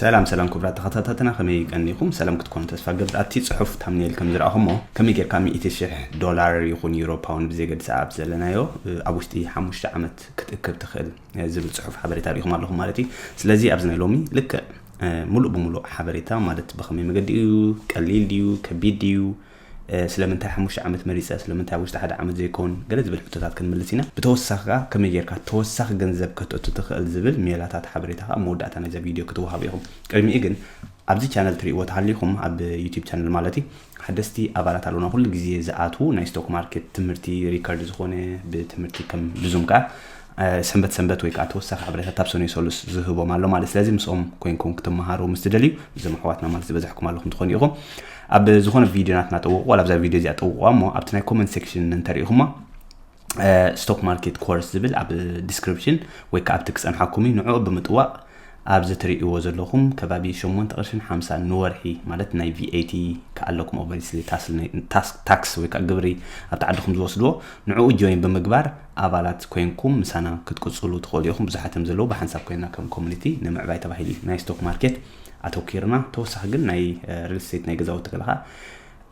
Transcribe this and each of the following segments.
ሰላም ሰላም ኩቡራት ተከታታትና ከመይ ቀኒኩም ሰላም ክትኮኑ ተስፋ ገብር ኣብቲ ጽሑፍ ታምኔል ከም ዝረኣኹሞ ከመይ ጌርካ ሚእቲ ሽሕ ዶላር ይኹን ዩሮ ፓውንድ ብዘይገድሳ ኣብ ዘለናዮ ኣብ ውሽጢ ሓሙሽተ ዓመት ክትእክብ ትኽእል ዝብል ጽሑፍ ሓበሬታ ርኢኹም ኣለኹም ማለት እዩ ስለዚ ኣብዚ ናይ ሎሚ ልክዕ ሙሉእ ብሙሉእ ሓበሬታ ማለት ብኸመይ መገዲ እዩ ቀሊል ድዩ ከቢድ ድዩ ስለምንታይ ሓሙሽተ ዓመት መሪጸ፣ ስለምንታይ ኣብ ውሽጢ ሓደ ዓመት ዘይኮን፣ ገለ ዝብል ሕቶታት ክንምልስ ኢና። ብተወሳኺ ከኣ ከመይ ጌርካ ተወሳኺ ገንዘብ ከተእቱ ትኽእል ዝብል ሜላታት ሓበሬታ ከኣ ኣብ መወዳእታ ናይዛ ቪድዮ ክትወሃቡ ኢኹም። ቅድሚኡ ግን ኣብዚ ቻነል ትርእይዎ ተሃሊኹም ኣብ ዩቱብ ቻነል ማለት'ዩ ሓደስቲ ኣባላት ኣሎና ኩሉ ግዜ ዝኣትዉ ናይ ስቶክ ማርኬት ትምህርቲ ሪከርድ ዝኾነ ብትምህርቲ ከም ብዙም ከኣ ሰንበት ሰንበት ወይ ከኣ ተወሳኺ ሓበሬታት ኣብ ሰኑይ ሰሉስ ዝህቦም ኣሎ ማለት ስለዚ ምስኦም ኮንኩም ክትመሃሩ ምስ ትደልዩ እዞም ኣሕዋትና ማለት ዝበዛሕኩም ኣለኹም ትኾኑ ኢኹም ኣብ ዝኾነ ቪድዮናት ናጠውቑ ዋላ ኣብዛ ቪድዮ እዚኣ ጠውቑዋ እሞ ኣብቲ ናይ ኮመንት ሴክሽን እንተሪኢኹማ ስቶክ ማርኬት ኮርስ ዝብል ኣብ ዲስክሪፕሽን ወይ ከዓ ኣብቲ ክፀንሓኩም እዩ ንዕኡ ብምጥዋቕ ኣብዚ ትርእይዎ ዘለኹም ከባቢ ሸሞንተ ቅርሽን ሓምሳን ንወርሒ ማለት ናይ VAT ክኣ ኣለኩም ኦቨሪስሊ ታክስ ወይ ክኣ ግብሪ ኣብቲ ዓድኹም ዝወስድዎ ንዕኡ ጆይን ብምግባር ኣባላት ኮይንኩም ምሳና ክትቅጽሉ ትኽእሉ ኢኹም ብዙሓት እዮም ዘለዉ ብሓንሳብ ኮይና ከም ኮሚኒቲ ንምዕባይ ተባሂሉ ናይ ስቶክ ማርኬት ኣተኪርና ተወሳኺ ግን ናይ ሪል ስቴት ናይ ገዛውቲ ከለኻ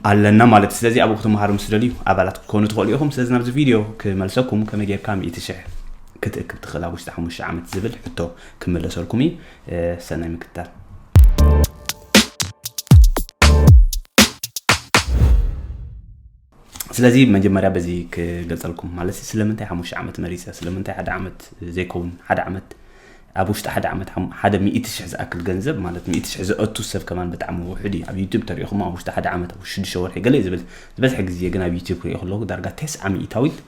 ኣለና ማለት እዩ ስለዚ ኣብኡ ክትመሃሩ ምስ ትደልዩ ኣባላት ክትኮኑ ትኽእሉ ኢኹም ስለዚ ናብዚ ቪድዮ ክመልሰኩም ከመይ ጌርካ ሚእቲ ሽሕ ክትእክብ ትኽእል ኣብ ውሽጢ ሓሙሽተ ዓመት ዝብል ሕቶ ክመለሰልኩም እዩ ሰናይ ምክትታል ስለዚ መጀመርያ በዚ ክገልፀልኩም ማለት ስለምንታይ ሓሙሽተ ዓመት መሪፀ ስለምንታይ ሓደ ዓመት ዘይከውን ሓደ ዓመት ኣብ ውሽጢ ሓደ ዓመት ሓደ ሚእቲ ሽሕ ዝኣክል ገንዘብ ማለት ሚእቲ ሽሕ ዘእቱ ሰብ ከማን ብጣዕሚ ውሑድ እዩ ኣብ ዩቱብ ተሪእኹሞ ኣብ ውሽጢ ሓደ ዓመት ኣብ ሽዱሽተ ወርሒ ገለ ዝብል ዝበዝሐ ግዜ ግን ኣብ ዩቱብ ክሪኦ ከለኹ ዳርጋ ተስዓ ሚእታዊት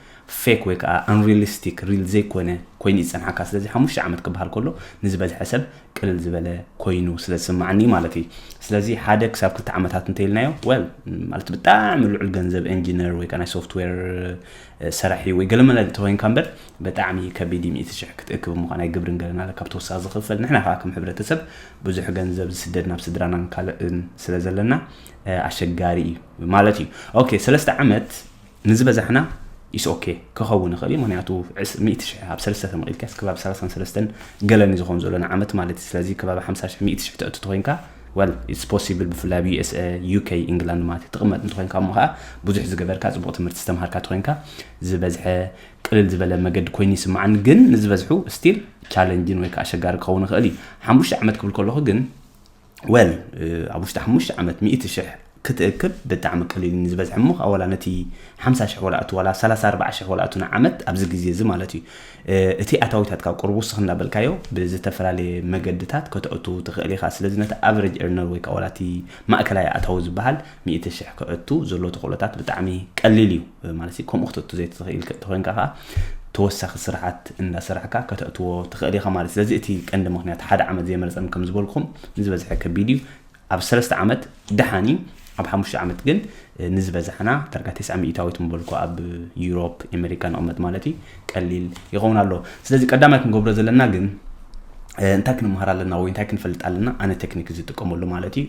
ፌክ ወይ ከዓ ኣንሪሊስቲክ ሪል ዘይኮነ ኮይኑ ይፀንሓካ ስለዚ ሓሙሽተ ዓመት ክበሃል ከሎ ንዝበዝሐ ሰብ ቅልል ዝበለ ኮይኑ ስለ ዝስማዓኒ ማለት እዩ ስለዚ ሓደ ክሳብ ክልተ ዓመታት እንተይልናዮ ወል ማለት ብጣዕሚ ልዑል ገንዘብ ኢንጂነር ወይ ከዓ ናይ ሶፍትዌር ሰራሒ ወይ ገለ መለ ተኮይንካ እምበር በጣዕሚ ከቢድ እዩ ሚእቲ ሽሕ ክትእክብ እሞ ናይ ግብርን ገለን ኣለ ካብ ተወሳኪ ዝክፈል ንሕና ከኣ ከም ሕብረተሰብ ብዙሕ ገንዘብ ዝስደድ ናብ ስድራናን ካልእን ስለ ዘለና ኣሸጋሪ እዩ ማለት እዩ ኦኬ ሰለስተ ዓመት ንዝበዛሕና ኢስ ኦኬ ክኸውን ይኽእል እዩ ምክንያቱ ሚእቲ ሽሕ ኣብ ሰለስተ ተመቒልካስ ከባቢ ሰላሳን ሰለስተን ገለን እዩ ዝኾን ዘሎ ንዓመት ማለት እዩ ስለዚ ከባቢ ሓምሳ ሽሕ ሚእቲ ሽሕ ተእቱ ተኮይንካ Well it's possible ብፍላይ ኣብ USA፣ UK፣ England ማለት እዩ ትቅመጥ እንተኮይንካ እሞ ከኣ ብዙሕ ዝገበርካ ጽቡቅ ትምህርቲ ዝተማሃርካ ተኮይንካ ዝበዝሐ ቅልል ዝበለ መገዲ ኮይኑ ይስምዓኒ ግን ንዝበዝሑ ስቲል ቻለንጅን ወይ ከኣ ኣሸጋሪ ክኸውን ይኽእል እዩ ሓሙሽተ ዓመት ክብል ከለኹ ግን ወል ኣብ ውሽጢ ሓሙሽተ ዓመት ሚእቲ ሽሕ ክትእክብ ብጣዕሚ ቀሊል እዩ ንዝበዝሐ እሞ ከኣ ወላ ነቲ ሓምሳ ሽሕ ወላ እቱ ወላ ሰላሳ ኣርብዓ ሽሕ ወላ እቱ ንዓመት ኣብዚ ግዜ እዚ ማለት እዩ እቲ ኣታዊታትካ ኣብ ቁሩብ ውስኽ እንዳበልካዮ ብዝተፈላለየ መገድታት ከተእቱ ትኽእል ኢኻ ስለዚ ነቲ ኣቨረጅ ኤርነር ወይ ከኣ ወላ እቲ ማእከላይ ኣእታዊ ዝበሃል ሚእቲ ሽሕ ከእቱ ዘሎ ተኽእሎታት ብጣዕሚ ቀሊል እዩ ማለት ከምኡ ክተእቱ ዘይትኽእል ተኾይንካ ከኣ ተወሳኺ ስራሓት እንዳሰራሕካ ከተእትዎ ትኽእል ኢኻ ማለት ስለዚ እቲ ቀንዲ ምክንያት ሓደ ዓመት ዘይመርጸም ከም ዝበልኩም ንዝበዝሐ ከቢድ እዩ ኣብ ሰለስተ ዓመት ደሓን እዩ ኣብ ሓሙሽተ ዓመት ግን ንዝበዛሕና ዳርጋ ቴስዓ ሚእታዊት ምበልኩ ኣብ ዩሮፕ ኣሜሪካ ንቕመጥ ማለት እዩ ቀሊል ይኸውን ኣሎ ስለዚ ቀዳማይ ክንገብሮ ዘለና ግን እንታይ ክንምሃር ኣለና ወይ እንታይ ክንፈልጥ ኣለና ኣነ ቴክኒክ ዝጥቀመሉ ማለት እዩ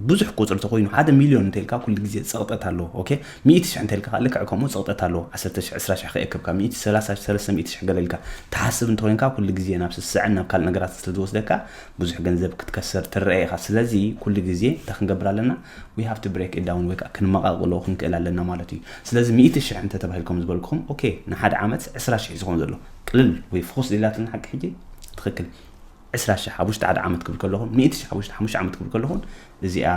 ብዙሕ ቁፅሪ ተኮይኑ ሓደ ሚሊዮን እንተልካ ኩሉ ግዜ ፀቕጠት ኣለዎ ኦኬ ሚእቲ ሽሕ እንተልካ ከዓ ልክዕ ከምኡ ፀቕጠት ኣለዎ ዓሰርተ ሽሕ ዕስራ ሽሕ ከየከብካ ሚእቲ ሰላሳ ሰለስተ ሚእቲ ሽሕ ገለልካ ትሓስብ እንተኮይንካ ኩሉ ግዜ ናብ ስስዐን ናብ ካልእ ነገራት ስለዝወስደካ ብዙሕ ገንዘብ ክትከስር ትረኣ ኢኻ ስለዚ ኩሉ ግዜ እንታይ ክንገብር ኣለና ዊ ሃቭ ቱ ብሬክ ዳውን ወይ ከዓ ክንመቓቕሎ ክንክእል ኣለና ማለት እዩ ስለዚ ሚእቲ ሽሕ እንተ ተባሂልኩም ዝበልኩም ኦኬ ንሓደ ዓመት ዕስራ ሽሕ ዝኸውን ዘሎ ቅልል ወይ ፍኹስ ዲላትና ሓቂ ሕጂ ትኽክል ዕስራ ሽሕ ኣብ ውሽጢ ሓደ ዓመት ክብል ከለኹን ሚእቲ ሽሕ ኣብ ውሽጢ ሓሙሽተ ዓመት ክብል ከለኹን እዚኣ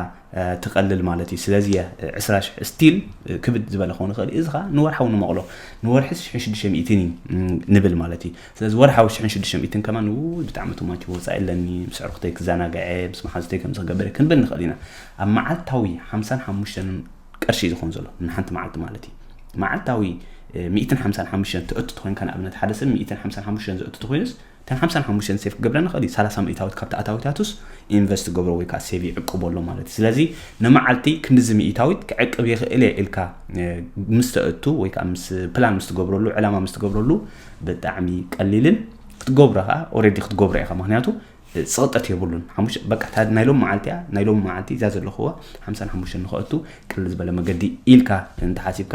ትቀልል ማለት እዩ ስለዚ እያ ዕስራ ሽሕ ስቲል ክብድ ዝበለ ክኸውን ይኽእል እዩ እዚ ከዓ ንወርሓዊ ንመቕሎ ንወርሒ ሽሕን ሽዱሽተ ሚእትን እዩ ንብል ማለት እዩ ስለዚ ወርሓዊ ሽሕን ሽዱሽተ ሚእትን ከማን ውይ ብጣዕሚ ቱማች ወፃኢ ኣለኒ ምስ ዕርኩተይ ክዘናግዐ ምስ መሓዙተይ ከምዚ ክገብር ክንብል ንኽእል ኢና ኣብ መዓልታዊ ሓምሳን ሓሙሽተን ቅርሺ እዩ ዝኾን ዘሎ ንሓንቲ መዓልቲ ማለት እዩ መዓልታዊ ሚእትን ሓምሳን ሓሙሽተን ትእትቶ ኮይንካ ንኣብነት ሓደ ሰብ ሚእትን ሓምሳን ሓሙሽተን ዘእትቶ ኮይኑስ እተን ሓምሳን ሓሙሽተን ሴፍ ክገብረን ይኽእል እዩ፣ ሰላሳ ሚእታዊት ካብቲ ኣታዊታቱስ ኢንቨስት ክገብሮ ወይ ከኣ ሴቭ ይዕቅቦ ኣሎ ማለት እዩ። ስለዚ ንመዓልቲ ክንድዚ ሚእታዊት ክዕቅብ ይኽእል እየ ኢልካ ምስ ተእቱ ወይ ከኣ ምስ ፕላን ምስ ትገብረሉ ዕላማ ምስ ትገብረሉ ብጣዕሚ ቀሊልን ክትገብሮ ከኣ ኦረዲ ክትገብሮ ኢኻ ምክንያቱ ጽቕጠት የብሉን ሓሙሽተ በቃ እታ ናይ ሎም መዓልቲ እያ ናይ ሎም መዓልቲ እዛ ዘለኹዋ ሓምሳን ሓሙሽተን ንኸእቱ ቅልል ዝበለ መገዲ ኢልካ እንተሓሲብካ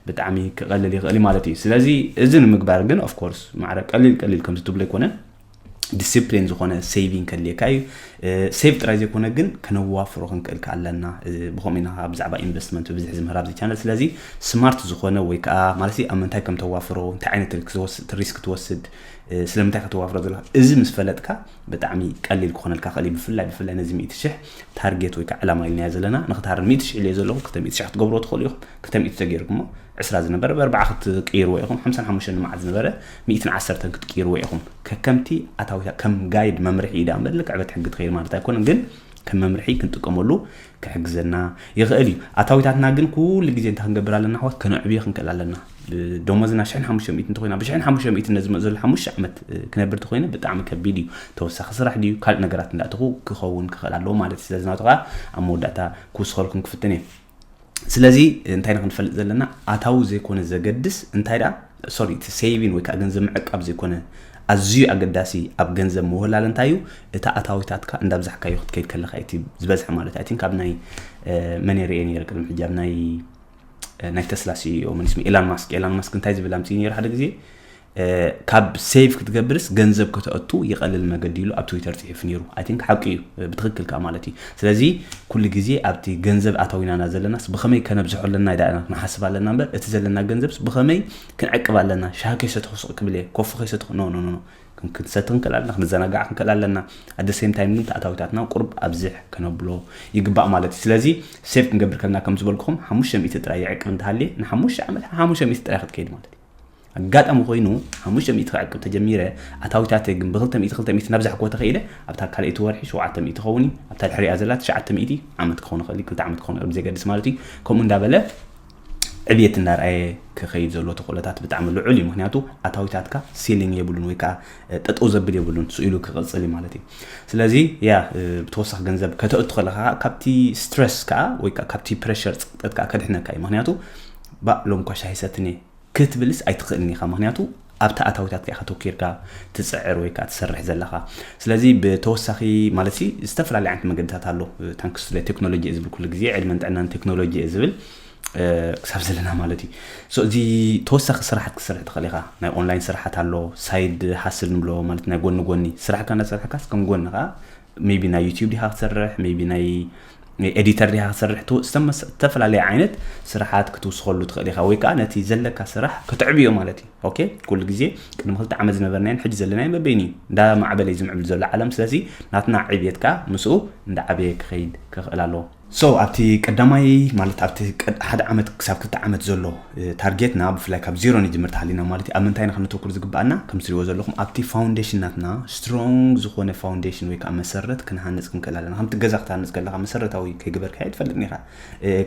ብጣዕሚ ክቐልል ይኽእል ማለት እዩ ስለዚ እዚ ንምግባር ግን ኦፍኮርስ ማዕረ ቀሊል ቀሊል ከምዚ ትብሎ ኣይኮነን ዲስፕሊን ዝኾነ ሴቪንግ ከድልየካ እዩ ሴቭ ጥራይ ዘይኮነ ግን ከነዋፍሮ ክንክእል ከ ኣለና ብከምኡ ኢና ብዛዕባ ኢንቨስትመንት ብብዝሒ ዝምህር ኣብዚ ቻነል ስለዚ ስማርት ዝኾነ ወይ ከዓ ማለት ኣብ ምንታይ ከም ተዋፍሮ እንታይ ዓይነት ሪስክ ትወስድ ስለምንታይ ከተዋፍሮ ዘለካ እዚ ምስ ፈለጥካ ብጣዕሚ ቀሊል ክኾነልካ ይኽእል እዩ ብፍላይ ብፍላይ ነዚ ሚእቲ ሽሕ ታርጌት ወይ ከዓ ዕላማ ኢልናዮ ዘለና ንክትሃርም ሚእቲ ሽሕ ኢለዮ ዘለኹ ክልተ ሚእቲ ሽሕ ክትገብርዎ ትኽእሉ ኢኹም ክልተ ሚእቲ ተገይርኩሞ ዕስራ ዝነበረ ብኣርባዓ ክትቅይርዎ ኢኹም ሓምሳን ሓሙሽተን ንመዓት ዝነበረ ሚእትን ዓሰርተን ክትቅይርዎ ኢኹም ከከምቲ ኣታዊታ ከም ጋይድ መምርሒ እዩ ዳኣ እምበር ልክዕ በቲ ሕጊ ትኸይድ ማለት ኣይኮነን ግን ከም መምርሒ ክንጥቀመሉ ክሕግዘና ይኽእል እዩ። ኣታዊታትና ግን ኩሉ ግዜ እንታይ ክንገብር ኣለና ኣሕዋት? ከነዕብዮ ክንክእል ኣለና። ደሞዝና ሽሕን ሓሙሽተ ሚእቲ እንተኾይና ብሽሕን ሓሙሽተ ሚእቲ ነዚ ዘሎ ሓሙሽተ ዓመት ክነብር እንተኾይነ ብጣዕሚ ከቢድ እዩ። ተወሳኺ ስራሕ ድዩ ካልእ ነገራት እንዳእተኹ ክኸውን ክኽእል ኣለዎ ማለት እዩ። ስለዚ ናቱ ከዓ ኣብ መወዳእታ ክውስኸልኩም ክፍትን እየ። ስለዚ እንታይ ኢና ክንፈልጥ ዘለና ኣታዊ ዘይኮነ ዘገድስ እንታይ ደኣ ሶሪ እቲ ሴቪን ወይ ከኣ ገንዘብ ምዕቃብ ዘይኮነ ኣዝዩ ኣገዳሲ ኣብ ገንዘብ ምውህላል እንታይ እዩ እቲ ኣታዊታትካ እንዳብዛሕካዮ ክትከይድ ከለካ እቲ ዝበዝሐ ማለት ኣይ ቲንክ ኣብ ናይ መን ርኤ ነይረ ቅድሚ ሕጂ ኣብ ናይ ናይ ተስላ ሲኢኦ መን ስሙ ኤላን ማስክ ኤላን ማስክ እንታይ ዝብል ኣምፅኡ ነይሩ ሓደ ግዜ ካብ ሴቭ ክትገብርስ ገንዘብ ከተእቱ ይቐልል መገዲ ኢሉ ኣብ ትዊተር ፅሒፉ ነይሩ ኣይ ቲንክ ሓቂ እዩ ብትክክል ከዓ ማለት እዩ ስለዚ ኩሉ ግዜ ኣብቲ ገንዘብ ኣታዊና እና ዘለናስ ብኸመይ ከነብዝሖ ኣለና ኢዳ ኢና ክንሓስብ ኣለና እምበር እቲ ዘለና ገንዘብስ ብኸመይ ክንዕቅብ ኣለና ሻሂ ከይሰተኹ ስቕ ክብል እየ ኮፊ ከይሰተኹ ኖኖኖኖ ክንሰቲ ክንክእል ኣለና ክንዘናጋዕ ክንክእል ኣለና ኣደ ሴም ታይም ግን ተኣታዊታትና ቁርብ ኣብዝሕ ከነብሎ ይግባእ ማለት እዩ ስለዚ ሴፍ ክንገብር ከለና ከም ዝበልኩኹም ሓሙሽተ ሚእቲ ጥራይ ይዕቅብ እንተሃልየ ንሓሙሽተ ዓመት ሓሙሽተ ሚእቲ ጥራይ ክትከይድ ማለት እዩ ኣጋጣሚ ኮይኑ ሓሙሽተ ሚእቲ ክዕቅብ ተጀሚረ ኣታዊታተይ ግን ብክልተ ሚእቲ ክልተ ሚእቲ እናብዛሕኩ እኮ ተኸኢለ ኣብታ ካልኣይቲ ወርሒ ሸውዓተ ሚእቲ ክኸውን እዩ ኣብታ ድሕሪኣ ዘላ ትሽዓተ ሚእቲ ዓመት ክኸውን ይኽእል እዩ ክልተ ዓመት ክኸውን ይኽእል ብዘይገድስ ማለት እዩ ከምኡ እንዳበለ ዕብየት እናርኣየ ክኸይድ ዘሎ ተኽእሎታት ብጣዕሚ ልዑል እዩ ምክንያቱ ኣታዊታትካ ሲሊንግ የብሉን ወይ ከዓ ጠጠው ዘብል የብሉን ስኢሉ ክቕፅል እዩ ማለት እዩ ስለዚ ያ ብተወሳኺ ገንዘብ ከተእቱ ከለካ ካብቲ ስትረስ ከዓ ወይ ካብቲ ፕሬሸር ፀቅጠት ከዓ ከድሕነካ እዩ ምክንያቱ ባእ ሎምኳሽ ኣይሰትን'የ ክትብልስ ኣይትኽእልን ኢኻ፣ ምኽንያቱ ኣብቲ ኣታዊታትካ ኢኻ ተኪርካ ትጽዕር ወይ ከኣ ትሰርሕ ዘለኻ። ስለዚ ብተወሳኺ ማለትሲ ዝተፈላለየ ዓይነት መገድታት ኣሎ፣ ታንክስ ቱ ቴክኖሎጂ'የ ዝብል ኩሉ ግዜ፣ ዕድመን ጥዕናን ንቴክኖሎጂ'የ ዝብል ክሳብ ዘለና ማለት እዩ። ሶ እዚ ተወሳኺ ስራሓት ክትሰርሕ ትኽእል ኢኻ፣ ናይ ኦንላይን ስራሓት ኣሎ፣ ሳይድ ሃስል ንብሎ ማለት ናይ ጎኒ ጎኒ ስራሕካ እንዳሰርሕካስ ከም ጎኒ ከኣ ሜይቢ ናይ ዩቲዩብ ዲኻ ክትሰርሕ ሜይቢ ናይ ኤዲተር ዲኻ ክትሰርሕ ዝተፈላለየ ዓይነት ስራሓት ክትውስኸሉ ትኽእል ኢኻ ወይ ከዓ ነቲ ዘለካ ስራሕ ክትዕብዮ ማለት እዩ ኦኬ ኩሉ ግዜ ቅድሚ ክልተ ዓመት ዝነበርናዮን ሕጂ ዘለናዮ መበይን እዩ እንዳ ማዕበለ እዩ ዝምዕብል ዘሎ ዓለም ስለዚ ናትና ዕብየት ከዓ ምስኡ እንዳዓበየ ክኸይድ ክኽእል ኣለዎ So ኣብቲ ቀዳማይ ማለት ኣብቲ ቀድ ሓደ ዓመት ክሳብ ክልተ ዓመት ዘሎ ታርጌትና ብፍላይ ካብ ዜሮ ንጅምር ተሃሊና ማለት እዩ ኣብ ምንታይ ኢና ከነተኩር ዝግባኣና ከም ትሪእዎ ዘለኹም ኣብቲ ፋውንዴሽን ናትና ስትሮንግ ዝኾነ ፋውንዴሽን ወይ ከዓ መሰረት ክንሃንፅ ክንክእል ኣለና ከምቲ ገዛ ክትሃንፅ ከለካ መሰረታዊ ከይግበርካዮ ትፈልጥ ኢኻ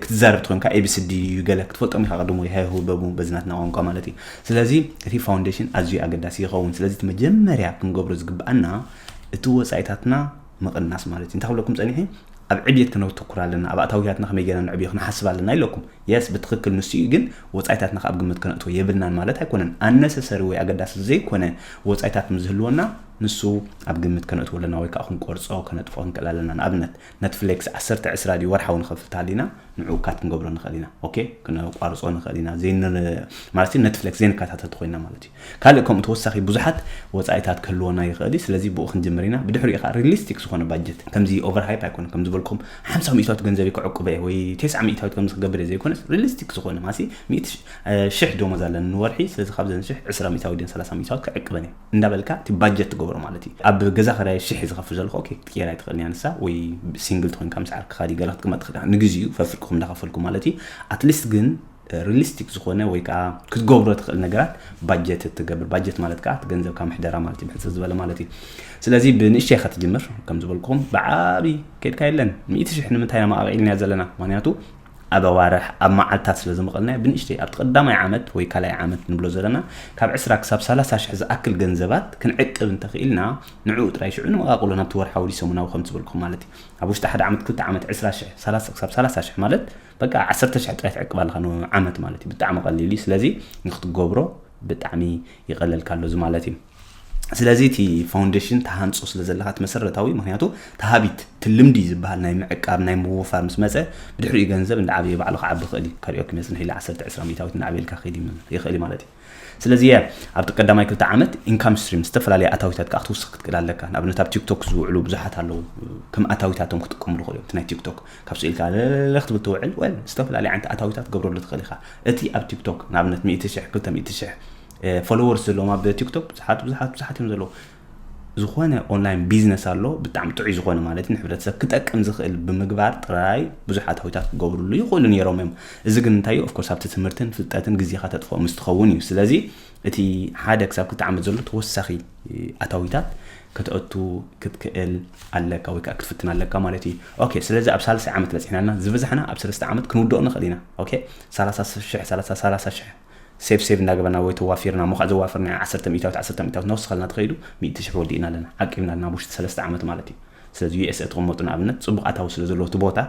ክትዛረብ ትኾንካ ኤቢስዲ እዩ ገለ ክትፈልጦም ኢኻ ቅድሞ ይሃይሁ በቡ በዚ ናትና ቋንቋ ማለት እዩ ስለዚ እቲ ፋውንዴሽን ኣዝዩ ኣገዳሲ ይኸውን ስለዚ እቲ መጀመርያ ክንገብሮ ዝግባኣና እቲ ወፃኢታትና ምቕናስ ማለት እዩ እንታይ ክብለኩም ጸኒሐ ኣብ ዕብየት ክነተኩር ኣለና ኣብ ኣታዊያትና ከመይ ገና ንዕብዮ ክንሓስብ ኣለና ኢለኩም የስ ብትክክል ንሱ እዩ ግን ወፃኢታትና ካብ ግምት ክነእትዎ የብልናን ማለት ኣይኮነን ኣነሰሰሪ ወይ ኣገዳሲ ዘይኮነ ወፃኢታት ምስዝህልወና ንሱ ኣብ ግምት ከነእትዎ ኣለና ወይ ከዓ ክንቆርፆ ከነጥፎ ክንክእል ኣለና ንኣብነት ነትፍሌክስ 1 ዕስራ ድዩ ወርሓዊ ንኸፍል ተሃሊና ንዕኡ ካት ክንገብሮ ንኽእል ኢና ኦኬ ክነቋርፆ ንኽእል ኢና ማለት ነትፍሌክስ ዘይንከታተልቲ ኮይና ማለት እዩ ካልእ ከምኡ ተወሳኺ ብዙሓት ወጻኢታት ክህልዎና ይኽእል እዩ። ስለዚ ብኡ ክንጅምር ኢና። ብድሕሪኡ ከኣ ሪሊስቲክ ዝኾነ ባጀት ከምዚ ኦቨር ሃይፕ ኣይኮነን ከም ዝበልኩም ሓምሳ ሚእታዊት ገንዘበይ ከዕቁበ እየ ወይ ቴስዓ ሚእታዊት ከምዚ ክገብር እየ ዘይኮነስ ሪሊስቲክ ዝኾነ ማሲ ሚእቲ ሽሕ ደሞዝ ኣለኒ ንወርሒ ስለዚ ካብዘን ሽሕ ዕስራ ሚእታዊት ድየን ሰላሳ ሚእታዊት ክዕቅበን እየ እንዳበልካ እቲ ባጀት ትገብሮ ማለት እዩ። ኣብ ገዛ ክራይ ሽሕ ዝኸፍል ዘለኹ ኦኬ ክትቅየር ኣይትኽእልን እያ ንሳ ወይ ሲንግል ትኾይንካ ምስ ዓርክኻ ድዩ ገለ ክትቅመጥ ትኽእል ኢኻ ንግዚኡ ፈፍርቅኩም እንዳኸፈልኩም ማለት እዩ ኣትሊስት ግን ሪሊስቲክ ዝኾነ ወይ ከኣ ክትገብሮ ትኽእል ነገራት ባጀት እትገብር ባጀት ማለት ከኣ እቲ ገንዘብካ ምሕደራ ማለት እዩ ብሕፅር ዝበለ ማለት እዩ ስለዚ ብንእሽተይ ኢኻ ትጅምር ከም ዝበልኩም ብዓብዪ ከድካ የለን ሚእቲ ሽሕ ንምንታይ ኢና መቓቒልና ዘለና ምክንያቱ ኣብ ኣዋርሕ ኣብ መዓልትታት ስለ ዝመቐልናዮ ብንእሽተይ ኣብቲ ቀዳማይ ዓመት ወይ ካልኣይ ዓመት ንብሎ ዘለና ካብ ዕስራ ክሳብ ሰላሳ ሽሕ ዝኣክል ገንዘባት ክንዕቅብ እንተኽኢልና ንዕኡ ጥራይ ሽዑ ንመቓቕሎ ናብቲ ወርሓዊ ሰሙናዊ ከም ዝበልኩም ማለት እዩ ኣብ ውሽጢ ሓደ ዓመት ክልተ ዓመት ዕስራ ሽሕ ክሳብ ሰላሳ ሽሕ ማለት በቃ ዓሰርተ ሽሕ ጥራይ ትዕቅብ ኣለኻ ንዓመት ማለት እዩ ብጣዕሚ ቀሊል እዩ ስለዚ ንክትገብሮ ብጣዕሚ ይቐለልካ ኣሎ እዚ ማለት እዩ ስለዚ እቲ ፋውንዴሽን ተሃንፆ ስለ ዘለካ እቲ መሰረታዊ ምክንያቱ ተሃቢት እቲ ልምዲ ዝበሃል ናይ ምዕቃብ ናይ ምውፋር ምስ መፀ ብድሕሪኡ ገንዘብ እንዳዓበየ ባዕሉ ክዓቢ ይኽእል እዩ ከሪኦ ክመፅንሕ ኢለ 1 20 ሚታዊት እንዳዓበየልካ ክኸይድ ይኽእል ማለት እዩ ስለዚ እያ ኣብቲ ቀዳማይ ክልተ ዓመት ኢንካም ስትሪም ዝተፈላለየ ኣታዊታት ከዓ ክትውስኽ ክትክእል ኣለካ ንኣብነት ኣብ ቲክቶክ ዝውዕሉ ብዙሓት ኣለዉ ከም ኣታዊታቶም ክጥቀምሉ ክእሉ እቲ ናይ ቲክቶክ ካብ ስኢልካ ለለለ ክትብል ትውዕል ወ ዝተፈላለየ ዓይነት ኣታዊታት ገብረሉ ትኽእል ኢኻ እቲ ኣብ ቲክቶክ ንኣብነት 100 ሽሕ 200 ሽሕ ፎሎወርስ ዘለዎም ኣብ ቲክቶክ ብዙሓት ብዙሓት ብዙሓት እዮም ዘለዉ ዝኾነ ኦንላይን ቢዝነስ ኣሎ ብጣዕሚ ጥዑይ ዝኾነ ማለት እዩ ንሕብረተሰብ ክጠቅም ዝኽእል ብምግባር ጥራይ ብዙሓት ሃዊታት ክገብርሉ ይኽእሉ ነይሮም እዮም እዚ ግን እንታይ እዩ ኦፍኮርስ ኣብቲ ትምህርትን ፍልጠትን ግዜኻ ተጥፍኦ ምስ ትኸውን እዩ ስለዚ እቲ ሓደ ክሳብ ክልተ ዓመት ዘሎ ተወሳኺ ኣታዊታት ከተእቱ ክትክእል ኣለካ ወይ ከዓ ክትፍትን ኣለካ ማለት እዩ ኦኬ ስለዚ ኣብ ሳልሳይ ዓመት በፂሕና ኣለና ዝበዛሕና ኣብ ሰለስተ ዓመት ክንውድኦ ንኽእል ኢና ኦኬ ሰላሳ ሽሕ ሰላሳ ሰላሳ ሽሕ ሴብ ሴብ እንዳገበርና ወይ ተዋፊርና እሞ ከኣ ዘዋፈርናዮ ዓሰርተ ሚእታዊት ዓሰርተ ሚእታዊት ነውስኸልና ተኸይዱ ሚእቲ ሽሕ ወዲእና ኣለና ዓቂብና ኣለና ኣብ ውሽጢ ሰለስተ ዓመት ማለት እዩ ስለዚ ዩ ኤሰ ትቅመጡ ንኣብነት ጽቡቅ ኣታዊ ስለ ዘለዎ እቲ ቦታ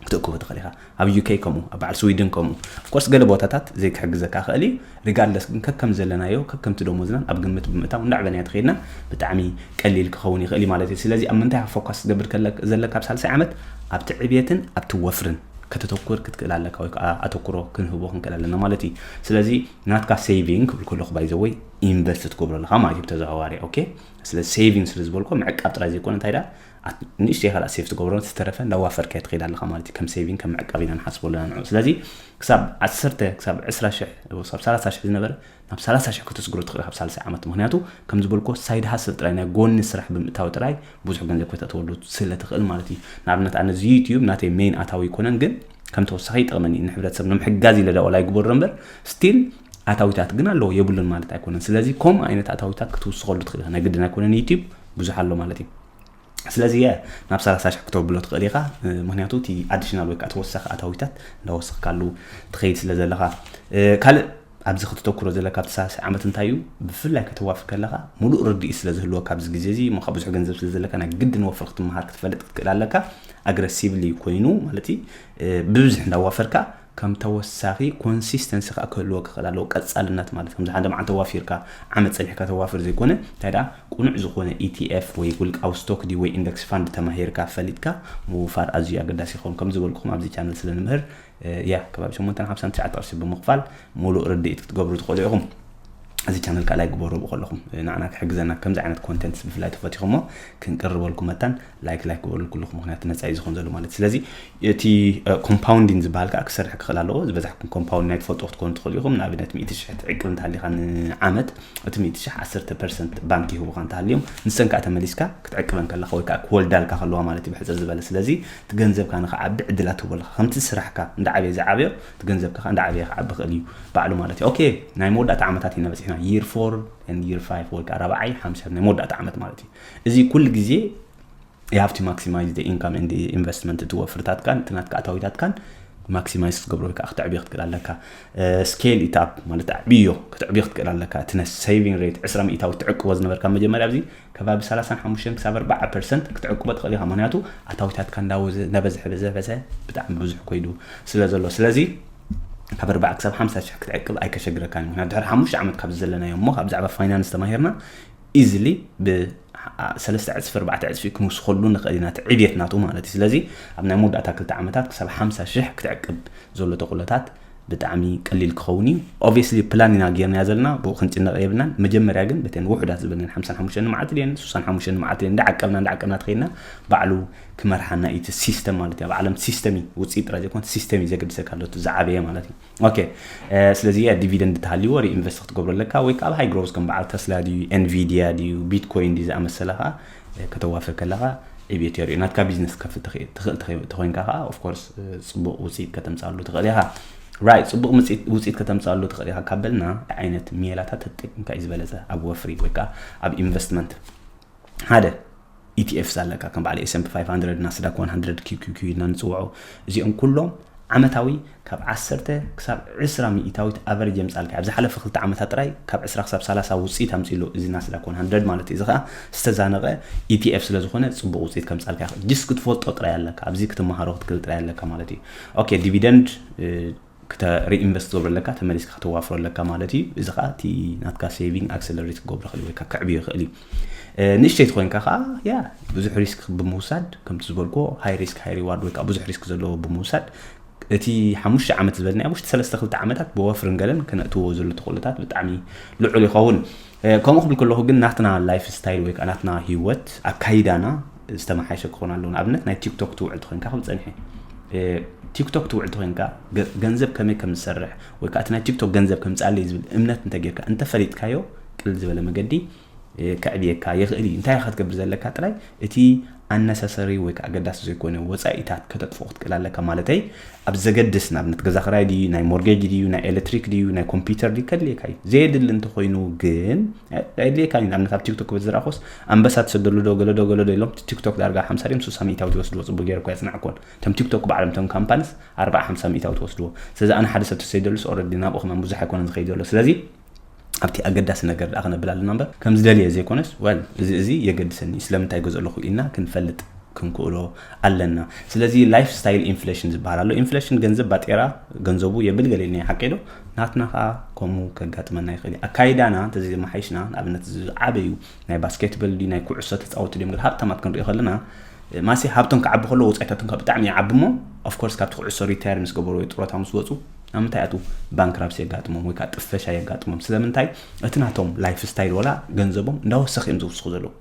ክትእክቦ ትኽእል ኢኻ ኣብ ዩኬ ከምኡ ኣብ በዓል ስዊድን ከምኡ ኣፍኮርስ ገለ ቦታታት ዘይክሕግዘካ ክእል እዩ ሪጋርድለስ ግን ከከም ዘለናዮ ከከምቲ ደሞዝናን ኣብ ግምት ብምእታው እንዳዕበናዮ ተኸይድና ብጣዕሚ ቀሊል ክኸውን ይኽእል እዩ ማለት እዩ ስለዚ ኣብ ምንታይ ፎካስ ክትገብር ዘለካ ኣብ ሳልሳይ ዓመት ኣብቲ ዕብየትን ኣብቲ ወፍርን ከተተኩር ክትክእል ኣለካ ወይ ከዓ ኣተኩሮ ክንህቦ ክንክእል ኣለና ማለት እዩ ስለዚ ናትካ ሴቪንግ ክብል ከለኩ ባይዘወይ ኢንቨስት ትገብሮ ኣለካ ማለት እዩ ብተዘዋዋሪ ኦኬ ስለዚ ሴቪንግ ስለ ዝበልኮ ምዕቃብ ጥራይ ዘይኮነ እንታይ ዳ ንእሽተይ ካልኣ ሴፍ ትገብሮ ዝተረፈ እንዳዋፈርካዮ ትኸይድ ኣለካ ማለት እዩ ከም ሴቪንግ ከም ምዕቃብ ኢና ንሓስቦ ኣለና ንዑ ስለዚ ክሳብ ዓሰርተ ክሳብ ዕስራ ሽሕ ክሳብ ሰላሳ ሽሕ ዝነበረ ናብ ሰላሳ ሽሕ ከተስግሮ ትኽእል ኢኻ ኣብ ሳልሳይ ዓመት ምኽንያቱ ከም ዝበልኩዎ ሳይድ ሃስል ጥራይ ናይ ጎኒ ስራሕ ብምእታው ጥራይ ብዙሕ ገንዘብ ከተእትወሉ ስለ ትኽእል ማለት እዩ ንኣብነት ኣነ እዚ ዩትዩብ ናተይ ሜይን ኣታዊ ኣይኮነን ግን ከም ተወሳኺ ይጠቕመኒ ንሕብረተሰብ ንምሕጋዝ ኢለ ዳዋላ ይግበሮ እምበር ስቲል ኣታዊታት ግን ኣለዎ የብሉን ማለት ኣይኮነን ስለዚ ከምኡ ዓይነት ኣታዊታት ክትውስኸሉ ትኽእል ኢኻ ናይ ግድን ኣይኮነን ዩትዩብ ብዙሕ ኣሎ ማለት እዩ ስለዚ እየ ናብ ሰላሳ ሽሕ ክተብሎ ትኽእል ኢኻ ምክንያቱ እቲ ኣዲሽናል ወይ ከዓ ተወሳኺ ኣታዊታት እንዳወሰኽካሉ ትኸይድ ስለ ዘለኻ ካልእ ኣብዚ ከተተኩሮ ዘለካ ኣብቲ ሳልሳይ ዓመት እንታይ እዩ ብፍላይ ከተዋፊ ከለኻ ሙሉእ ርድኢት ስለ ዝህልወካ ኣብዚ ግዜ እዚ እሞ ከኣ ብዙሕ ገንዘብ ስለ ዘለካ ናይ ግድን ወፍሪ ክትመሃር ክትፈልጥ ክትክእል ኣለካ ኣግረሲቭሊ ኮይኑ ማለት እዩ ብብዝሕ እንዳዋፈርካ ከም ተወሳኺ ኮንሲስተንሲ ከኣ ክህልዎ ክኽእል ኣለዎ ቀጻልነት ማለት ከምዚ ሓደ መዓልቲ ዋፊርካ ዓመት ጸኒሕካ ተዋፍር ዘይኮነ እንታይ ደኣ ቁኑዕ ዝኾነ ETF ወይ ውልቃዊ ስቶክ ድዩ ወይ ኢንደክስ ፋንድ ተማሂርካ ፈሊጥካ ምውፋር ኣዝዩ ኣገዳሲ ይኸውን ከም ዝበልኩኹም ኣብዚ ቻነል ስለ ንምህር ያህ ከባቢ ሸሞንተን ሓምሳን ትሽዓተ ቅርሺ ብምኽፋል ሙሉእ ርድኢት ክትገብሩ ትኽእሉ ኢኹም። እዚ ቻነል ከዓ ላይክ ግበርዎ ከለኹም ንዓና ክሕግዘና ከምዚ ዓይነት ኮንተንትስ ብፍላይ ተፈቲኹሞ ክንቅርበልኩም መታን ላይክ ላይክ ግበርሉ ኩልኹም ምክንያቱ መፃኢ ዝኹን ዘሎ ማለት ስለዚ እቲ ኮምፓውንዲን ዝበሃል ከዓ ክሰርሕ ክኽእል ኣለዎ ዝበዛሕኩም ኮምፓውንድ ናይ ትፈልጡ ክትኮኑ ትኽእሉ ኢኹም ንኣብነት ሚእቲ ሽሕ ትዕቅብ እንተሃሊኻ ንዓመት እቲ ሚእቲ ሽሕ ዓሰርተ ፐርሰንት ባንክ ይህቡኻ እንተሃልዮም ንሰን ከዓ ተመሊስካ ክትዕቅበን ከለካ ወይ ከዓ ክወልዳልካ ከለዋ ማለት እዩ ብሕፅር ዝበለ ስለዚ እቲ ገንዘብካ ንኽዓቢ ዕድላት ትህቦ ኣለኻ። ከምቲ ስራሕካ እንዳዓበየ ዝዓበዮ እቲ ገንዘብካ ከኣ እንዳዓበየ ክዓቢ ይኽእል እዩ ባዕሉ ማለት እዩ። ኦኬ ናይ መወዳእታ ዓመታት ኢና በጺሕና year four and year five ወይ ከኣ ራብዓይ ሓምሻይ ናይ መወዳእታ ዓመት ማለት እዩ። እዚ ኩሉ ግዜ you have to maximize the income and the investment እቲ ወፍርታትካን እቲ ናትካ ኣታዊታትካን ማክሲማይዝ ክትገብሮ ወይ ከዓ ክትዕብዮ ክትክእል ኣለካ ስኬል ኢታፕ ማለት ኣዕብዮ ክትዕብዮ ክትክእል ኣለካ እቲ ነ ሰቪንግ ሬት ዕስራ ሚእታዊ ትዕቅቦ ዝነበርካ መጀመርያ ኣብዚ ከባቢ ሰላሳን ሓሙሽተን ክሳብ ኣርባዓ ፐርሰንት ክትዕቅቦ ትኽእል ኢኻ ምክንያቱ ኣታዊታትካ እንዳወዘ እንዳበዝሐ በዘበዘ ብጣዕሚ ብዙሕ ኮይዱ ስለ ዘሎ ስለዚ ካብ ኣርባዓ ክሳብ ሓምሳ ሽሕ ክትዕቅብ ኣይከሸግረካን እዩ ምክንያቱ ድሕሪ ሓሙሽተ ዓመት ካብ ዘለናዮ እሞ ካብ ብዛዕባ ፋይናንስ ተማሂርና ኢዝሊ ሰለስተ ዕፅፊ ኣርባዕተ ዕፅፊ ክንውስኸሉ ንኽእል ኢና እቲ ዕብየት ናቱ ማለት እዩ ስለዚ ኣብ ናይ መወዳእታ ክልተ ዓመታት ክሳብ ሓምሳ ሽሕ ክትዕቅብ ዘሎ ተኽእሎታት ብጣዕሚ ቀሊል ክኸውን እዩ ኦብስሊ ፕላን ኢና ጌርናያ ዘለና ብኡ ክንጭነቕ የብልናን መጀመርያ ግን በተን ውሑዳት ዝበለን ሓምሳን ሓሙሽተን መዓልቲ ድን ሱሳን ሓሙሽተን መዓልቲ ድን እንዳዓቀብና እንዳዓቀብና ትኸይድና ባዕሉ ክመርሓና እዩ እቲ ሲስተም ማለት እዩ ኣብ ዓለም ሲስተም እዩ ውፅኢት ጥራይ ዘይኮነ ሲስተም እዩ ዘገድሰካ ኣሎ እቲ ዝዓበየ ማለት እዩ ኦኬ ስለዚ እያ ዲቪደንድ ተሃልይዎ ሪኢንቨስት ክትገብሮ ኣለካ ወይ ከዓ ኣብ ሃይ ግሮዝ ከም በዓል ተስላ ድዩ ኤንቪድያ ድዩ ቢትኮይን ድዩ ዝኣመሰለ ከዓ ከተዋፍር ከለኻ ዕብየት የርእዩ። ናትካ ቢዝነስ ክትከፍት ትኽእል ትኽእል ተኸ- ተኾይንካ ከዓ ኦፍኮርስ ፅቡቅ ውፅኢት ከተምፅኣሉ ትኽእል ኢኻ ራይት ፅቡቅ ምፅኢት- ውፅኢት ከተምፅኣሉ ትኽእል ኢኻ ካብ በልና እንታይ ዓይነት ሜላታት ተጠቂምካ እዩ ዝበለፀ ኣብ ወፍሪ ወይ ከዓ ኣብ ኢንቨስትመንት ሓደ ኢቲኤፍስ ኣለካ ከም በዓል ኤስምፒ 500 ናስዳክ 100 ኪኪኪ ኢልና ንፅውዖ እዚኦም ኩሎም ዓመታዊ ካብ ዓሰርተ ክሳብ ዕስራ ሚኢታዊት ኣቨረጅ የምጻልካ። ኣብዚ ሓለፈ ክልተ ዓመታት ጥራይ ካብ ዕስራ ክሳብ ሰላሳ ውጽኢት ኣምጺኡ ኣሎ እዚ ናስዳክ ዋን ሃንድረድ ማለት እዩ። እዚ ከኣ ዝተዛነቐ ETF ስለዝኾነ ጽቡቕ ውጽኢት ከምጻልካ ይኽእል። ጅስ ክትፈልጦ ጥራይ ኣለካ። ኣብዚ ክትመሃሮ ክትክእል ጥራይ ኣለካ ማለት እዩ። ኦኬ ዲቪደንድ ክተ ሪኢንቨስት ትገብሮ ኣለካ ተመሊስካ ከተዋፍሮ ኣለካ ማለት እዩ። እዚ ከኣ እቲ ናትካ ሴቪንግ ኣክሰለሬት ክገብሮ ይኽእል ወይ ከኣ ከዕብዮ ይኽእል እዩ። ንእሽተይ ተኮይንካ ከዓ ያ ብዙሕ ሪስክ ብምውሳድ ከምቲ ዝበልኮ ሃይ ሪስክ ሃይ ሪዋርድ ወይ ከዓ ብዙሕ ሪስክ ዘለዎ ብምውሳድ እቲ ሓሙሽተ ዓመት ዝበልናዮ ውሽጢ ሰለስተ ክልተ ዓመታት ብወፍርን ገለን ክነእትዎ ዘሎ ተኽእሎታት ብጣዕሚ ልዑል ይኸውን ከምኡ ክብል ከለኹ ግን ናትና ላይፍ ስታይል ወይ ከዓ ናትና ሂወት ኣካይዳና ዝተመሓሸ ክኾን ኣለዎ ንኣብነት ናይ ቲክቶክ ትውዕል ተኮይንካ ክብል ፀኒሐ ቲክቶክ ትውዕል ተኮይንካ ገንዘብ ከመይ ከም ዝሰርሕ ወይ ከዓ እቲ ናይ ቲክቶክ ገንዘብ ከምፃለይ ዝብል እምነት እንተጌርካ እንተፈሊጥካዮ ቅልል ዝበለ መገዲ ከዕብየካ ይኽእል እዩ እንታይ ክትገብር ዘለካ ጥራይ እቲ ኣነሰሰሪ ወይ ከዓ ኣገዳሲ ዘይኮነ ወፃኢታት ከተጥፍኦ ክትክእል ኣለካ ማለተይ ኣብ ዘገድስ ንኣብነት ገዛ ክራይ ድዩ ናይ ሞርጌጅ ድዩ ናይ ኤሌክትሪክ ድዩ ናይ ኮምፒውተር ድዩ ከድልየካ እዩ ዘየድሊ እንተኮይኑ ግን ኣይድልየካ እዩ ንኣብነት ኣብ ቲክቶክ በዝራእኮስ ኣንበሳ ትሰደሉ ዶ ገለዶ ገለዶ ኢሎም ቲክቶክ ዳርጋ ሓምሳ ድዮም ሱሳ ሚእታዊ ትወስድዎ ፅቡቅ ገይረ እኳ የፅናዕኮን እቶም ቲክቶክ ባዕሎም እቶም ካምፓኒስ ኣርባዓ ሓምሳ ሚእታዊ ትወስድዎ ስለዚ ኣነ ሓደ ሰብ ተሰይደሉስ ኦረዲ ናብኡ ከማን ብዙሕ ኣይኮነን ዝኸይድ ዘሎ ስለዚ ኣብቲ ኣገዳሲ ነገር ደኣ ክነብል ኣለና እምበር ከም ዝደልየ ዘይኮነስ ወል እዚ እዚ የገድሰኒ እዩ ስለምንታይ ይገዝኦ ኣለኹ ኢልና ክንፈልጥ ክንክእሎ ኣለና ስለዚ ላይፍ ስታይል ኢንፍሌሽን ዝበሃል ኣሎ ኢንፍሌሽን ገንዘብ ባጤራ ገንዘቡ የብል ገለ ኢልና ሓቂ ዶ ናትና ከዓ ከምኡ ከጋጥመና ይኽእል እዩ ኣካይዳና እንተዘይማሓይሽና ንኣብነት ዝዓበዩ ናይ ባስኬትበል ድዩ ናይ ኩዕሶ ተፃወቲ ድዮም ገለ ሃብታማት ክንሪኦ ከለና ማሲ ሃብቶም ክዓቢ ከሎ ወፃኢታቶም ካብ ብጣዕሚ ይዓቢ እሞ ኦፍኮርስ ካብቲ ኩዕሶ ሪታየር ምስ ገበሩ ወይ ጥሮታ ምስ ወፁ ኣብ ምንታይ ኣትው ባንክራፕሲ የጋጥሞም ወይ ከዓ ጥፈሻ የጋጥሞም ስለምንታይ እቲ ናቶም ላይፍ ስታይል ወላ ገንዘቦም እንዳወሰኽ እዮም ዝውስኹ ዘለዉ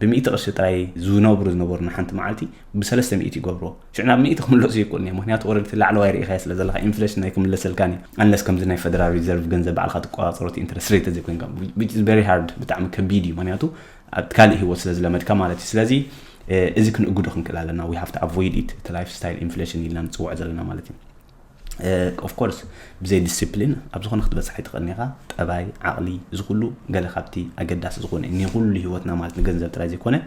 ብሚእቲ ቅርሺ ጥራይ ዝነብሩ ዝነበሩ ንሓንቲ መዓልቲ ብሰለስተ ሚእቲ ይገብርዎ ሽዑ ናብ ሚእቲ ክምለሱ ይክእሉን እዮም ምክንያቱ ኦረዲ እቲ ላዕለዋይ ርኢኻዮ ስለ ዘለካ ኢንፍሌሽን ናይ ክምለሰልካን እዩ ኣንለስ ከምዚ ናይ ፈደራል ሪዘርቭ ገንዘብ ባዕልካ ትቆፃፀሮ እቲ ኢንትረስት ሬት ተዘይኮይንካ ዊች ኢዝ ቨሪ ሃርድ ብጣዕሚ ከቢድ እዩ ምክንያቱ ኣብ ካልእ ሂወት ስለ ዝለመድካ ማለት እዩ ስለዚ እዚ ክንእግዶ ክንክእል ኣለና ዊ ሃፍቲ ኣቮይድ ኢት እቲ ላይፍ ስታይል ኢንፍሌሽን ኢልና ንፅውዖ ዘለና ማለት እዩ ኦፍ ኮርስ ብዘይ ዲሲፕሊን ኣብ ዝኾነ ክትበፅሕ ኣይትኽእልን ኢኻ ጠባይ ዓቕሊ እዚ ኩሉ ገለ ካብቲ ኣገዳሲ ዝኾነ እዩ ንኩሉ ሂወትና ማለት ንገንዘብ ጥራይ ዘይኮነ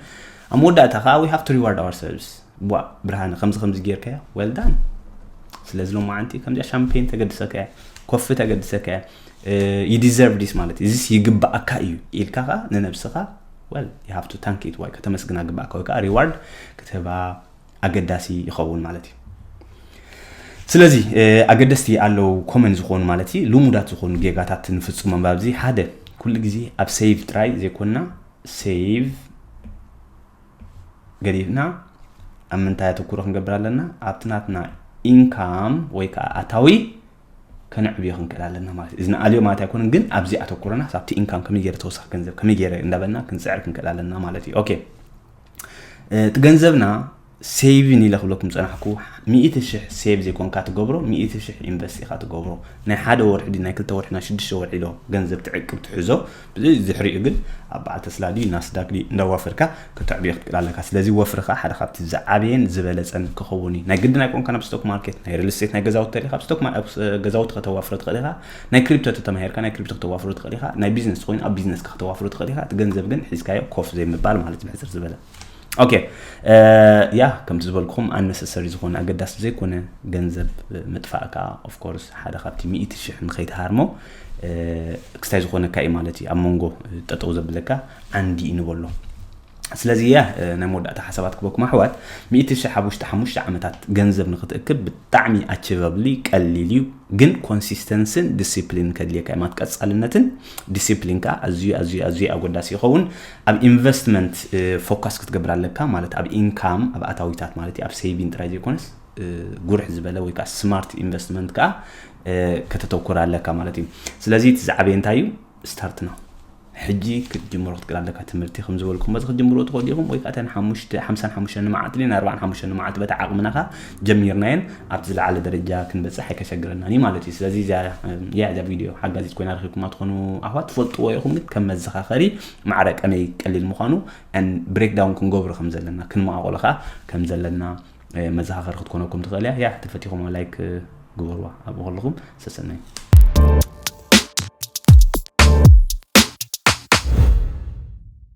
ኣብ መወዳእታ ከዓ ዊ ሃቭ ቱ ሪዋርድ ኣወር ሰርቪስ ዋ ብርሃነ ከምዚ ከምዚ ጌርካዮ ወልዳን ስለዚ ሎማዓንቲ ከምዚኣ ሻምፔን ተገድሰካ እያ ኮፊ ተገድሰካ እያ ይዲዘርቭ ዲስ ማለት እዚስ ይግባኣካ እዩ ኢልካ ከዓ ንነብስኻ ወል ይሃፍቱ ታንኪት ዋይ ከተመስግና ግባእካ ወይ ከዓ ሪዋርድ ክትህባ ኣገዳሲ ይኸውን ማለት እዩ ስለዚ ኣገደስቲ ኣለው ኮመን ዝኾኑ ማለት እዩ ልሙዳት ዝኾኑ ጌጋታት ንፍፅሞም ኣብዚ ሓደ ኩሉ ግዜ ኣብ ሴቭ ጥራይ ዘይኮንና ሴቭ ገዲፍና ኣብ ምንታይ ኣተኩሮ ክንገብር ኣለና ኣብቲ ናትና ኢንካም ወይ ከዓ ኣታዊ ከነዕብዮ ክንክእል ኣለና ማለት እዩ እዚ ንኣልዮ ማለት ኣይኮነን ግን ኣብዚ ኣተኩሮና ኣብቲ ኢንካም ከመይ ገይረ ተወሳኺ ገንዘብ ከመይ ገይረ እንዳበልና ክንፅዕር ክንክእል ኣለና ማለት እዩ ኦኬ እቲ ገንዘብና ሴቭን ኢለ ክብለኩም ፀናሕኩ ሚእቲ ሽሕ ሴቭ ዘይኮንካ ትገብሮ ሚእቲ ሽሕ ኢንቨስት ኢኻ ትገብሮ ናይ ሓደ ወርሒ ድዩ ናይ ክልተ ወርሒ ናይ ሽዱሽተ ወርሒ ዶ ገንዘብ ትዕቅብ ትሕዞ ዝሕሪኡ ግን ኣብ በዓል ተስላ ድዩ ናስዳክ ድዩ እንዳዋፈርካ ከተዕብዮ ክትክእል ኣለካ ስለዚ ወፍርካ ሓደ ካብቲ ዝዓበየን ዝበለፀን ክኸውን እዩ ናይ ግድን ኣይኮንካ ናብ ስቶክ ማርኬት ናይ ሪል ስቴት ናይ ገዛውቲ ተሪካ ኣብ ስቶክ ገዛውቲ ከተዋፍሮ ትኽእል ኢኻ ናይ ክሪፕቶ ተተማሂርካ ናይ ክሪፕቶ ክተዋፍሮ ትኽእል ኢኻ ናይ ቢዝነስ ተኾይኑ ኣብ ቢዝነስካ ክተዋፍሮ ትኽእል ኢኻ እቲ ገንዘብ ግን ሒዝካዮ ኮፍ ዘይምባል ማለት እዩ ብሕፅር ዝበለ ኦኬ ያ ከምቲ ዝበልኩኹም ኣነሰሰሪ ዝኾነ ኣገዳሲ ዘይኮነ ገንዘብ ምጥፋእ ከዓ ኦፍኮርስ ሓደ ካብቲ ሚእቲ ሽሕ ንኸይትሃርሞ ክስታይ ዝኾነካ እዩ ማለት እዩ ኣብ መንጎ ጠጠው ዘብለካ ዓንዲ እዩ ንበሎ ስለዚ እየ ናይ መወዳእታ ሓሳባት ክበኩም ኣሕዋት ሚእቲ ሽሕ ኣብ ውሽጢ ሓሙሽተ ዓመታት ገንዘብ ንክትእክብ ብጣዕሚ ኣችቨብሊ ቀሊል እዩ ግን ኮንሲስተንስን ዲስፕሊን ከድልየካ ማት ቀፃልነትን ዲስፕሊን ከዓ ኣዝዩ ኣዝዩ ኣዝዩ ኣጎዳሲ ይኸውን ኣብ ኢንቨስትመንት ፎካስ ክትገብር ኣለካ ማለት ኣብ ኢንካም ኣብ ኣታዊታት ማለት እዩ ኣብ ሴቪን ጥራይ ዘይኮነስ ጉርሕ ዝበለ ወይ ከዓ ስማርት ኢንቨስትመንት ከዓ ከተተኩር ኣለካ ማለት እዩ ስለዚ እቲ ዝዓበየ እንታይ እዩ ስታርት ናው ሕጂ ክትጅምሮ ክትክእል ኣለካ ትምህርቲ ከም ዝበልኩሞ እዚ ክትጅምሮ ትኽእሉ ኢኹም ወይ ከዓ እተን ሓሙሽተ ሓምሳን ሓሙሽተን መዓልቲ ድን ኣርባዓን ሓሙሽተን መዓልቲ በታ ዓቕምና ከ ጀሚርናየን ኣብቲ ዝለዓለ ደረጃ ክንበፅሕ ኣይከሸግረናን እዩ ማለት እዩ ስለዚ እዚያ እያ እዛ ቪድዮ ሓጋዚት ኮይና ረኪብኩማ ትኾኑ ኣሕዋት ትፈልጥዎ ኢኹም ግን ከም መዘኻኸሪ ማዕረ ቀመይ ቀሊል ምዃኑ ብሬክዳውን ክንገብሮ ከም ዘለና ክንመቓቆሎ ከዓ ከም ዘለና መዘኻኸሪ ክትኮነኩም ትኽእል እያ ያ ተፈቲኹም ላይክ ግበርዋ ኣብኡ ከለኹም ሰሰናዩ